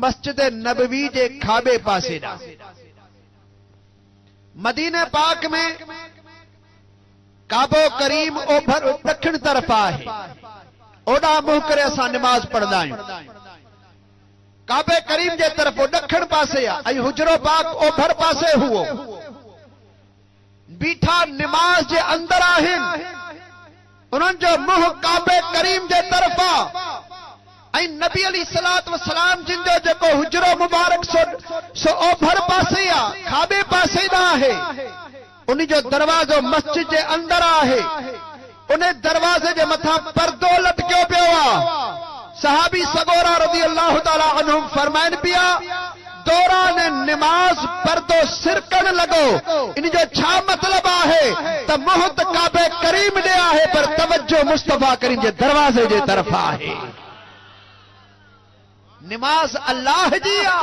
مسجد نبوي جي کاٻي پاسي ڏانهن. مدينه پاڪ ۾ ڪعبو ڪريم اوڀر ڏکڻ طرف آهي، اوڏانهن منهن ڪري اسان نماز پڙهندا آهيون. ڪعبي ڪريم جي طرف ڏکڻ پاسي آهي ۽ حجرو پاڪ اوڀر پاسي هئو. بيٺا نماز جي اندر آهن، انهن جو منهن ڪعبي ڪريم جي طرف آ ۽ نبي عليه الصلوة والسلام جن جو جيڪو حجرو مبارڪ سوڏ سو اوڀر پاسي آ، کاٻي پاسي ڏانهن آهي، انهي جو دروازو مسجد جي اندر آهي. ان دروازي جي مٿان پردو لٽڪيو پيو آ. صحابي سڳورا رضي الله تعالٰي عنهم فرمائن پيا، دوران نماز پردو سرڪڻ لڳو، ان جو ڇا مطلب آهي ته منهن ته ڪعبه ڪريم ڏي آهي پر توجه مصطفٰي ڪريم جي دروازي جي طرف آهي. نماز الله جي آ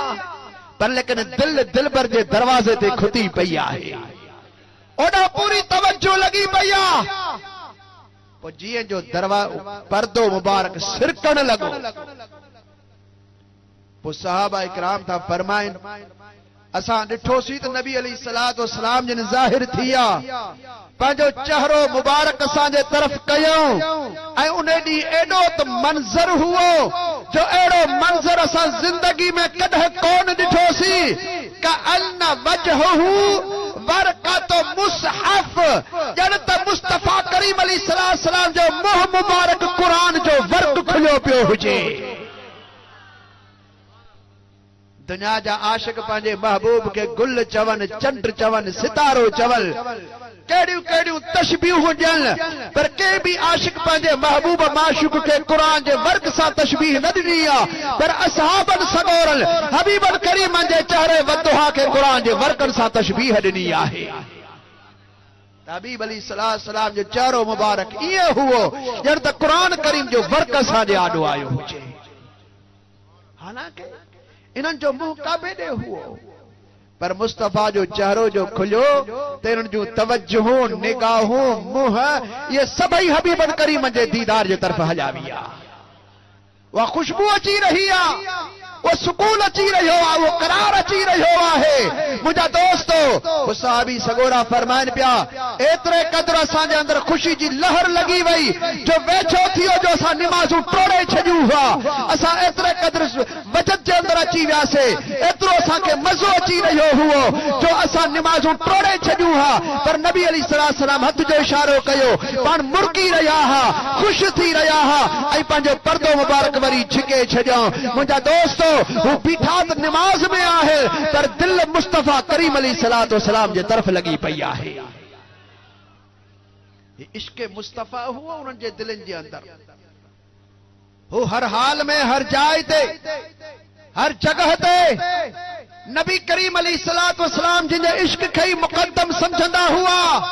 پر ليڪن دل دلبر جي دروازي تي کتي پئي آهي اوڏانهن پوري توجه لڳي پئي آ پوء جيئن جو دروا پردو مبارڪ سرڪڻ لڳو پوء صحابه اڪرام ٿا فرمائن اسان ڏٺوسين ته نبي عليه الصلوة والسلام جن ظاهر ٿي آ پنهنجو چهرو مبارڪ اسان جي طرف ڪيائون ۽ ان ڏينهن ايڏو ته منظر هئو جو اهڙو منظر اسان زندگي ۾ ڪڏهن ڪونه ڏٺوسين ڪأن وجهه ورقة مصحف ڄڻ ته مصطفيٰ ڪريم عليه السلام جو منهن مبارڪ قرآن جو ورق کليو پيو هجي. دنيا جا عاشق پنهنجي محبوب کي گل چون، چنڊ چون، ستارو چون، ڪهڙيون ڪهڙيون تشبيهون ڏين، پر ڪنهن به عاشق پنهنجي محبوب معشوق کي قرآن جي ورق سان تشبيهه نه ڏني آهي، پر اصحابن سڳورن حبيبن ڪريمن جي چهري والضحيٰ کي قرآن جي ورقن سان تشبيهه ڏني آهي ته حبيب عليه السلام جو چهرو مبارڪ ائين هئو ڄڻ ته قرآن ڪريم جو ورق اسان جي آڏو آيو هجي. حالانڪه انهن جو منهن ڪعبي ڏي هئو، پر مصطفيٰ جو چهرو جو کليو ته انهن جون توجهون، نگاهون، منهن اهي سڀئي حبيب الڪريم جي ديدار جي طرف هليا ويا. اها خوشبو اچي رهي آ، اهو سڪون اچي رهيو آ، اهو قرار اچي رهيو آهي. منهنجا دوستو! هو صحابي سڳورا فرمائن پيا. ايتري قدر اسان جي اندر خوشي جي لهر لڳي وئي جو ويجهو ٿي ويو جو اسان نمازون ٽوڙي ڇڏيون هئا. اسان ايتري قدر وجد جي اندر اچي وياسين، ايترو اسان کي مزو اچي رهيو هئو جو اسان نمازون ٽوڙي ڇڏيون ها پر نبي عليه السلام هٿ جو اشارو ڪيو، پاڻ مرڪي رهيا ها، خوش ٿي رهيا ها ۽ پنهنجو پردو مبارڪ وري جهڪي ڇڏيائون. منهنجا دوستو! هو بيٺا ته نماز ۾ آهن پر دل مصطفيٰ ڪريم عليه السلام جي طرف لڳي پئي آهي. آهي. هي عشق مصطفيٰ هو انهن جي دلين جي اندر. هو هر حال ۾ هر جاء تي هر جڳهه تي نبي ڪريم عليه الصلوة والسلام جن جي عشق کي ئي مقدم سمجهندا هئا.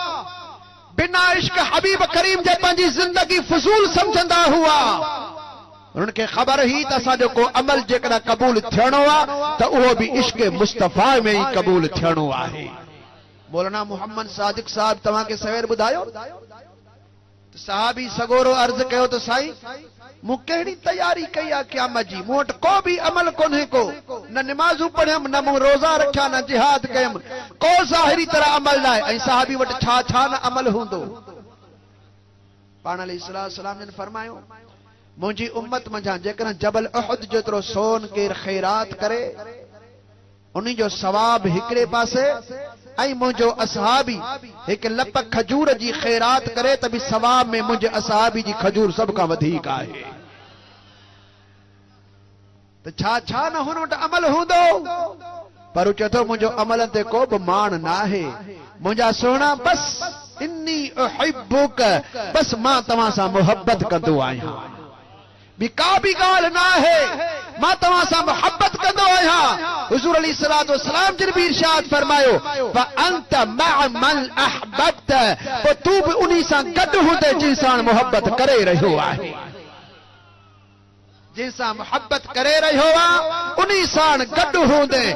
بنا عشق حبيب ڪريم جي پنهنجي زندگي فضول سمجهندا هئا. انهن کي خبر هئي ته اسان جو ڪو عمل جيڪڏهن قبول ٿيڻو آهي ته اهو به عشق مصطفيٰ ۾ ئي قبول ٿيڻو آهي. مولانا محمد صادق صاحب توهان کي سوير ٻڌايو ته صحابي سڳورو عرض ڪيو ته سائين مون ڪهڙي تياري ڪئي آ قيامت جي مون وٽ ڪو به عمل ڪونهي ڪو نه نمازون پڙهيم نه مون روزا رکيا نه جهاد ڪيم ڪو ظاهري طرح عمل ناهي ۽ صحابي وٽ ڇا ڇا نه عمل هوندو پاڻ عليه الصلوة والسلام جن فرمايو منهنجي امت منجهان جيڪڏهن جبل احد جيترو سون ڪير خيرات ڪري انهي جو ثواب هڪڙي پاسي ۽ منهنجو اصحابي هڪ لپ کجور جي خيرات ڪري ته به ثواب ۾ منهنجي اصحابي جي کجور سڀ کان وڌيڪ آهي ته ڇا ڇا نه هن وٽ عمل هوندو پر هو چئي ٿو منهنجو عملن تي ڪو به ماڻ ناهي منهنجا سهڻا بس اني احبک بس مان توهان سان محبت ڪندو آهيان. ٻي ڪا به ڳالهه نه آهي، مان توهان سان محبت ڪندو آهيان. حضور عليه الصلوة والسلام جن به ارشاد فرمايو، فأنت مع من احببت، پوء تون به انهي سان گڏ هوندين جن ساڻ محبت ڪري رهيو آهين. جن سان محبت ڪري رهيو آهين، انهي ساڻ گڏ هوندين.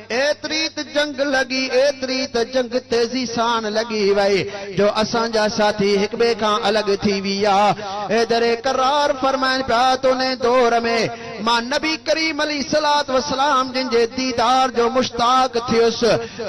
ايتري ته جنگ لڳي، ايتري ته جنگ تيزي سان لڳي وئي جو اسان جا ساٿي هڪ ٻئي کان الڳ ٿي ويا. حيدر ڪرار فرمائن پيا ته ان دور ۾ مان نبي ڪريم عليه الصلوة والسلام جن جي ديدار جو مشتاق ٿيس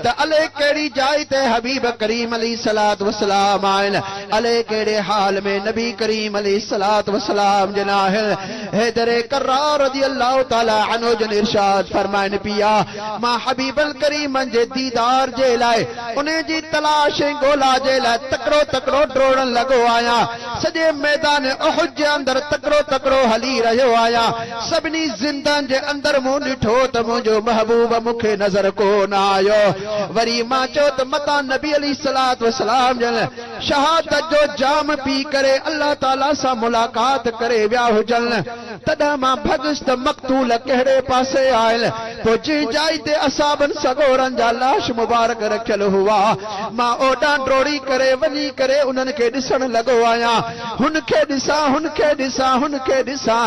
ته الئي ڪهڙي جاء تي حبيب ڪريم عليه الصلوة والسلام آهن، الئي ڪهڙي حال ۾ نبي ڪريم عليه الصلوة والسلام جن آهن. حيدر ڪرار رضي الله تعالٰي عنه جن ارشاد فرمائن پيا، مان حبيب الڪريم جي ديدار جي لاء انهي جي تلاش ۽ ڳولا جي لاء تڪڙو تڪڙو ڊوڙڻ لڳو آهيان، سڄي ميدان احد جي اندر تڪڙو تڪڙو هلي رهيو آهيان، سڀني زندهن جي اندر مون ڏٺو ته منهنجو محبوب مون کي نظر ڪونه آيو، وري مان چيو ته متان نبي عليه الصلوة والسلام جن شهادت جو جام پي ڪري الله تعاليٰ سان ملاقات ڪري ويا هجن، تڏهن مان ڀڳس ته مقتول ڪهڙي پاسي آهن، پوء جنهن جاء تي اصحابن سڳورن جا لاش مبارڪ رکيل هئا، مان اوڏانهن ڊوڙي ڪري وڃي ڪري انهن کي ڏسڻ لڳو آهيان، هن کي ڏسان، هن کي ڏسان، هن کي ڏسان.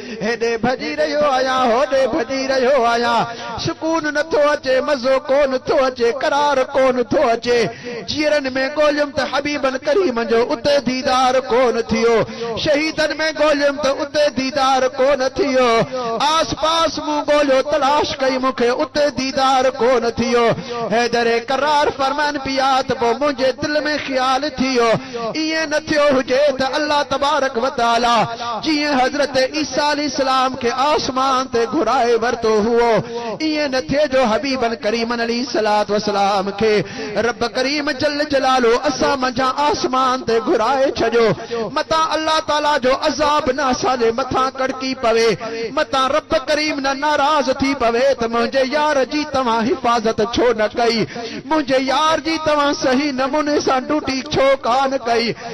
هيڏي ڀڄي رهيو آهيان، هوڏي ڀڄي رهيو آهيان، سڪون نه ٿو اچي، مزو ڪو نه ٿو اچي، قرار ڪو نه ٿو اچي، جيئرن ۾ ڳوليم ته حبيبن ڪريمن جو اتي ديدار ڪو نه ٿيو، شهيدن ۾ ڳوليم ته اتي ديدار ڪو نه ٿيو، آس پاس مون ڳوليو تلاش ڪئي مون کي اتي ديدار ڪو نه ٿيو، حيدر قرار فرمائن پيا ته پوء منهنجي دل ۾ خيال ٿيو، ائين نه ٿيو هجي ته الله تبارڪ وتعاليٰ. جيئن حضرت عيسيٰ عليه السلام کي آسمان تي گهرائي ورتو هئو، ائين نه ٿئي جو حبيبن ڪريمن عليه الصلوة والسلام کي رب ڪريم جل جلاله اسان منجهان آسمان تي گهرائي ڇڏيو، متان الله تعاليٰ جو عذاب نه اسان جي مٿان ڪڙڪي پوي، متان رب ڪريم نه ناراض ٿي پوي ته منهنجي يار جي توهان حفاظت ڇو نه ڪئي، منهنجي يار جي توهان صحيح نموني سان ڊوٽي ڇو ڪانه ڪئي.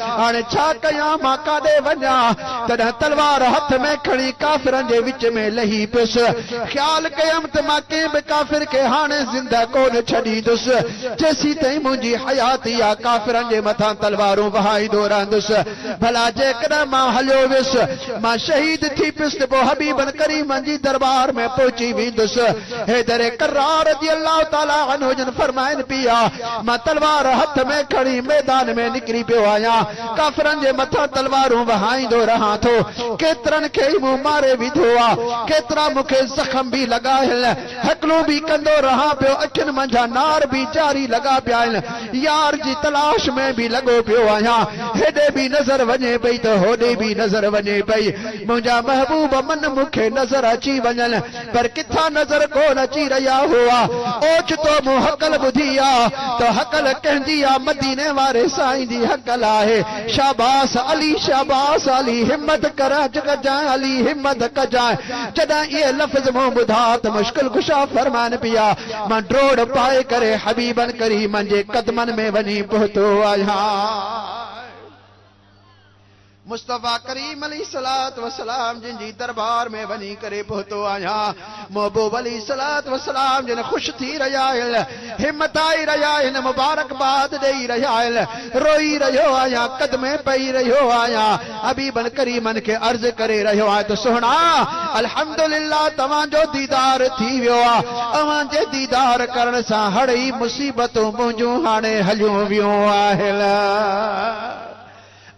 هاڻي ڇا ڪيان؟ مان ڪاڏي وڃان؟ تڏهن تلوار هٿ ۾ کڻي ڪافرن جي وچ ۾ لهي پيس. خيال ڪيم ته مان ڪنهن به ڪافر کي هاڻي زنده ڪونه ڇڏيندس. جيسيتائين منهنجي حياتي آ، ڪافرن جي مٿان تلوارون وهائيندو رهندس. ڀلا جيڪڏهن مان هليو ويس، مان شهيد ٿي پيس ته پوء حبيبن ڪريمن جي درٻار ۾ پهچي ويندس. حيدر ڪرار رضي الله تعالٰي عنه جن فرمائن پيا، مان تلوار هٿ ۾ کڻي ميدان ۾ نڪري پيو آهيان، ڪافرن جي مٿان تلوارون وهائيندو رهان ٿو، ڪيترن کي ئي مون ماري وڌو آ، ڪيترا مون کي زخم به لڳا هن، هڪلون به ڪندو رهان پيو، اکين منجهان نار به جاري لڳا پيا هن، يار جي تلاش ۾ به لڳو پيو آهيان، هيڏي به نظر وڃي پئي ته هوڏي به نظر وڃي پئي، منهنجا محبوب من مون کي نظر اچي وڃن. پر ڪٿان نظر ڪون اچي رهيا هئا. اوچتو مون هڪل ٻڌي آ ته هڪل ڪنهن جي آ؟ مديني واري سائين جي هڪل آهي. شاباس علي شاباس علي همت ڪرج ڪجانء علي همت ڪجانء جڏهن اهي لفظ مون ٻڌا ته مشڪل ڪشا فرمان پيا مان ڊوڙ پائي ڪري حبيبن ڪريمن جي قدمن ۾ وڃي پهتو آهيان. مصطفيٰ ڪريم عليه الصلوة والسلام جن جي دربار ۾ وڃي ڪري پهتو آهيان. محبوب عليه الصلوة والسلام جن خوش ٿي رهيا آهن، همٿائي رهيا آهن، مبارڪباد ڏيئي رهيا آهن، روئي رهيو آهيان، قدمين پئي رهيو آهيان، حبيبن ڪريمن کي عرض ڪري رهيو آهيان ته سهڻا! الحمدلله توهان جو ديدار ٿي ويو آهي، اوهان جي ديدار ڪرڻ سان هڙئي مصيبتون منهنجون هاڻي هليون ويون آهن.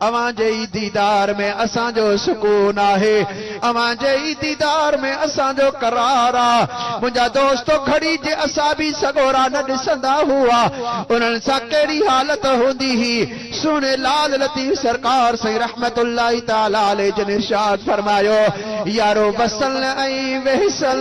اوهان جي ئي ديدار ۾ اسان جو سڪون آهي، اوهان جي ئي ديدار ۾ اسان جو قرار آ. منهنجا دوستو گهڙي جي اصابي سڳورا نه ڏسندا هئا، انهن سان ڪهڙي حالت هوندي هي. سهڻي لال لطيف سرڪار سائين رحمت الله تعالٰي عليه جن ارشاد فرمايو، يارو وصل ۽ وحصل.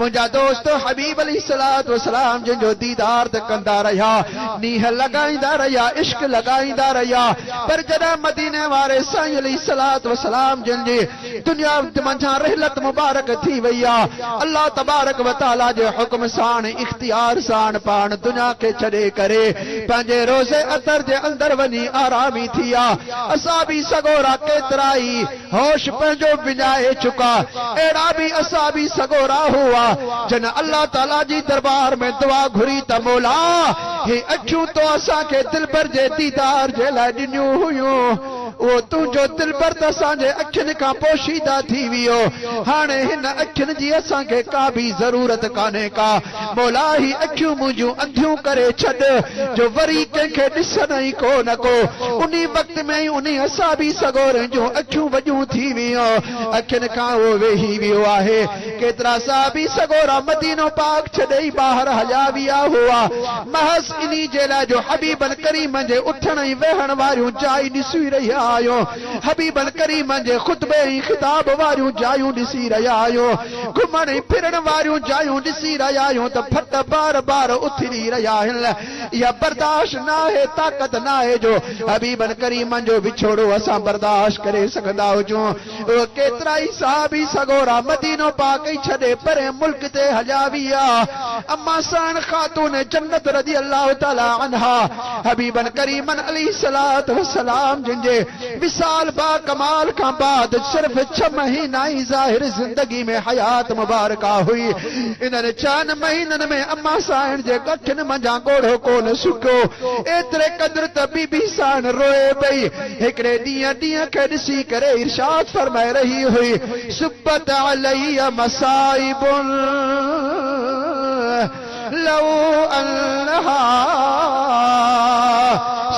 منهنجا دوست حبيب عليه الصلوة والسلام جن جو ديدار ته ڪندا رهيا، نينهن لڳائيندا رهيا، عشق لڳائيندا رهيا، پر جڏهن مديني واري سائين عليه الصلوة والسلام جن جي دنيا منجهان رحلت مبارڪ ٿي وئي آ، الله تبارڪ وتعالي جي حڪم ساڻ اختيار ساڻ پاڻ دنيا کي ڇڏي ڪري پنهنجي روضه اطهر جي اندر وڃي آرامي ٿي آ، اسان به سڳورا ڪيترائي. هوش پنهنجو وڃائي چڪا، اهڙا به اصحابي سڳورا هئا، جن الله تعاليٰ جي دربار ۾ دعا گهري ته مولا! هي اکيون تو اسان کي دلبر جي ديدار جي لاء ڏنيون هيون، اهو تنهنجو دلبر ته اسان جي اکين کان پوشيده ٿي ويو، هاڻي هن اکين جي اسان کي ڪا به ضرورت ڪانهي ڪا. مولا هي اکيون منهنجون انڌيون ڪري ڇڏ جو وري ڪنهن کي ڏسن ئي ڪو نه ڪو. انهي وقت ۾ ئي انهي حسابي سڳورن جون اکيون وڏيون ٿي ويون. اکين کان اهو ويهي ويو آهي. ڪيترا صحابي سڳورا مدينو پاڪ ڇڏي ٻاهر هليا ويا هئا. محض انهي جي لاء جو حبيبن ڪريمن جي اٿڻ ۽ ويهڻ واريون جايون ڏسي رهيا آهيون. حبيب الڪريم جي خطبي ۽ خطاب واريون جايون ڏسي رهيا آهيون، گهمڻ ۽ ڦرڻ واريون جايون ڏسي رهيا آهيون ته ڦٽ بار بار اٿري رهيا آهن. اها برداشت ناهي، طاقت ناهي جو حبيب الڪريم جو وڇوڙو اسان برداشت ڪري سگهندا هجون. اهي ڪيترائي صحابي سڳورا مدينو پاڪ ۽ ڇڏي پرئين ملڪ تي هليا ويا. اما سهڻ خاتون جنت رضي الله تعالٰي عنها، حبيبن ڪريمن عليه الصلوة والسلام جن جي وصال باڪمال کان بعد صرف ڇهه مهينا ئي ظاهري زندگي ۾ حيات مبارڪه هئي. انهن ڇهن مهينن ۾ امان سائڻ جي ڳٺين منجهان ڳوڙهو ڪونه سڪيو. ايتري قدر ته بي بي سائڻ روئي پئي. هڪڙي ڏينهن ڏينهن کي ڏسي ڪري ارشاد فرمائي رهي هئي، صبت علي مصائب. لو انها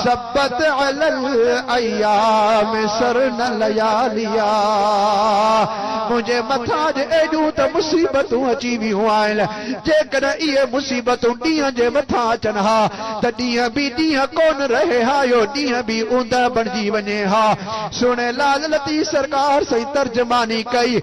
صبت علي الايام سرن لياليا منهنجي مٿان اڄ ايڏيون ته مصيبتون اچي ويون آهن جيڪڏهن اهي مصيبتون ڏينهن جي مٿان اچن ها ته ڏينهن به ڏينهن ڪونه رهي ها اهو ڏينهن به اوندهه بڻجي وڃي ها سهڻي لاجلتي سرڪار سائين ترجماني ڪئي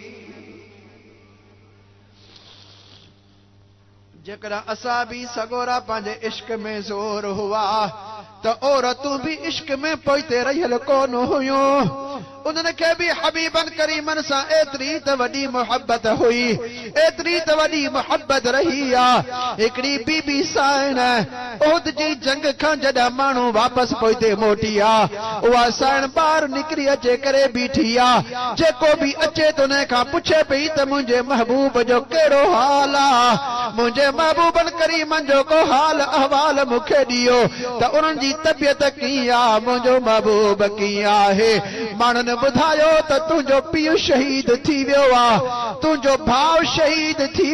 جيڪڏهن اسان به سڳورا پنهنجي عشق ۾ زور هئا ته عورتون به عشق ۾ پوئتي رهيل ڪون هيون انهن کي به حبيبن ڪريمن سان ايتري ته وڏي محبت هئي ايتري ته وڏي محبت رهي آ هڪڙي بي بي سائنه احد جي جنگ کان جڏهن ماڻهو واپس پوئتي موٽي آ، اها سائڻ ٻاهر نڪري اچي ڪري بيٺي آ. جيڪو به اچي ته انهي کان پڇي پئي ته منهنجي محبوب جو ڪهڙو حال آ؟ منهنجي محبوبن ڪريمن جو ڪو حال احوال مون کي ڏيو ته انهن جي طبيعت ڪيئن آ؟ منهنجو محبوب ڪيئن آهي؟ ماڻهن ٻڌايو ته تنهنجو پيء شهيد ٿي ويو آ، تنهنجو ڀاء شهيد ٿي.